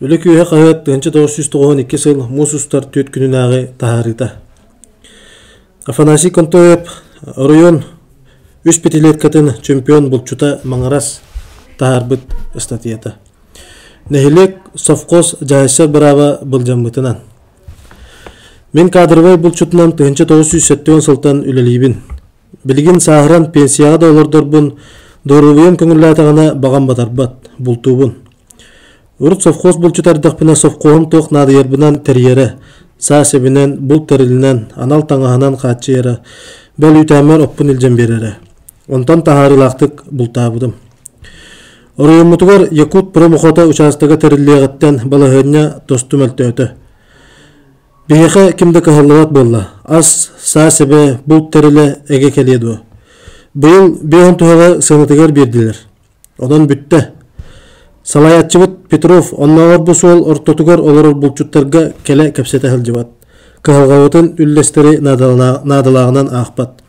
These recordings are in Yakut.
Үлэ күөһэ хаһыат тыһынча тоҕус сүүс тоҕуһун икки сыл муус устар түөрт күнүнээҕи таһаарыыта. Афанасий Контоев оройуон үс пятилеткатын чемпион булчута Маҥырас таһаарбыт статьята. Нэһилиэк совхоз дьаһайсар бырааба былдьаммытынан. Мин кадровай булчутунан тыһынча тоҕус сүүс сәттион сылтан үлэлиибин. Билигин сааһыран пенсияҕа да олордорбун, доруобуйам көҥүллээтэҕинэ баҕам батарбат, бултуубун. Урут совхоз булчут эрдэхпинэ совхоһум туох наадыйарбынан тэрийэрэ, саа сэбинэн, булт тэрилинэн, анал таҥаһынан хааччыйара, бэл үүтээммэр оппун илдьэн биэрэрэ. Онтон таһаарыылаахтык бултаабытым. Оройуоммутугар Якут промохото учаастага тэриллиэҕиттэн балаһыанньа тосту мөлтөөтө. Биһиэхэ ким да кыһаллыбат буолла. Ас, саа-сэбэ, булт тэрилэ эгэ кэлиэ дуо? Быйыл биэһин туһаҕа сыанатыгар биэрдилэр. Онон бүттэ. Салайааччыбыт Петров оннооҕор бу суол ортотугар олорор булчуттарга кэлэ кэпсэтэ сылдьыбат. Кыһалҕабытын үллэстэри наадалааҕынан аахпат.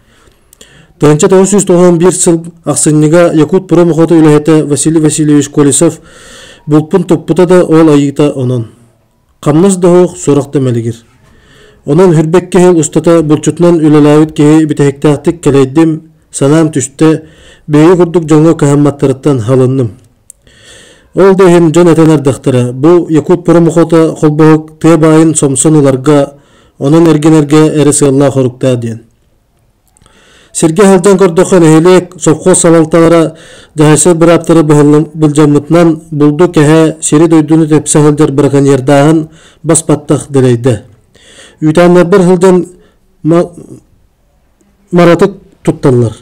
1991 сыл ахсынньыга Якутпром охота үлэһитэ Василий Васильевич Колесов булпун туппута да ол айыыта онон. Хамнас да суох, сорох да мэлигир. Онон хүрбэк киһи устата булчутунан үлэлээбит киһи бүтэһиктээхтик кэлэйдим, санаам түстэ, бэйи курдук дьоҥҥо кыһамматтарыттан халынным. Ол да иһин дьон этэн ардахтара, бу Якут промохота холбоһук тыа баайын сомсон ыларга, онон эргинэргэ эрэ сыаллаах оруктаа диэн. Сиргэ сылдьан көрдөххө нэһилиэк, совхоз салалталара, дьаһайсар бырааптара былдьаммытынан булду кэһэ сири-дойдуну тэпсэ сылдьар браконьердааһын бас баттах дэлэйдэ. Үүтээннэрбэр сылдьан маратык тутталлар.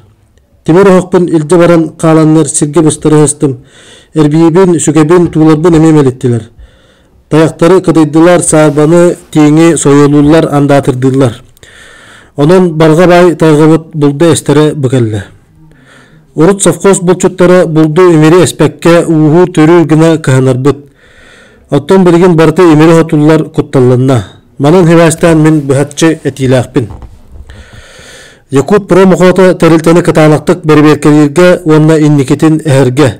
Тимир оһохпун илдьэ баран хааланнар сиргэ быстара сыстым. Эрбиибин, сүгэбин, тууларбын эмиэ мэлиттилэр. Тайахтары кытайдылар саарбаны тииҥи сойолууллар андаатырдыыллар. Онон барга бай тайгыбыт булда эстере быкелле. Урут совхоз булчуттара булду имири эспекке ууһу төрүү гына кыһанарбыт. Оттон билигин барыта имири хотуллар кутталланна. Манан хевастан мин быхатчы этиилээхпин. Якут промохота тэрилтэни кытаанактык берберкелирге уонна инникитин эһерге.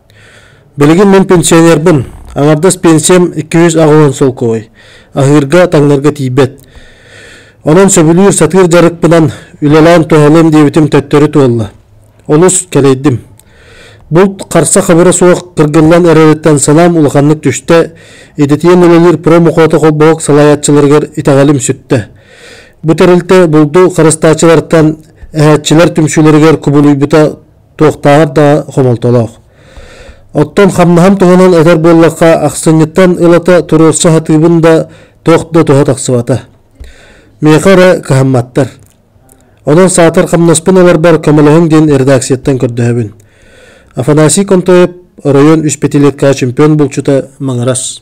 Билигин мин пенсионербын. Аҥардас пенсиям 200 аҕылан солкуой. Аһыырга, таҥнарга тиийбэт. Онон сөбүлүүр сатыыр дьарыкпынан үлэлээн туһалыам диэбитим төттөрү туолла. Олус кэлэйдим. Булт харса хабыра суох кыргыллан эрэриттэн санаам улаханнык түстэ, идэтийэн үлэлиир промокота холбоһук салайааччыларыгар итэҕэлим сүттэ. Бу тэрилтэ булду харыстааччылартан, эһээччилэр түмсүүлэригэр кубулуйбута туохтааҕар да хомолтолоох. Оттон хамнаһам туһунан этэр буоллахха, ахсынньыттан ылата туруорса сатыыбын да туох да туһа тахсыбата. Миэхэ эрэ кыһамматтар. Онон саатар хамнаспын ыларбар көмөлөһүҥ диэн редакцияттан көрдөһөбүн. Афанасий Контоев, оройуон үс пятилетка чемпион булчута Маҥарас.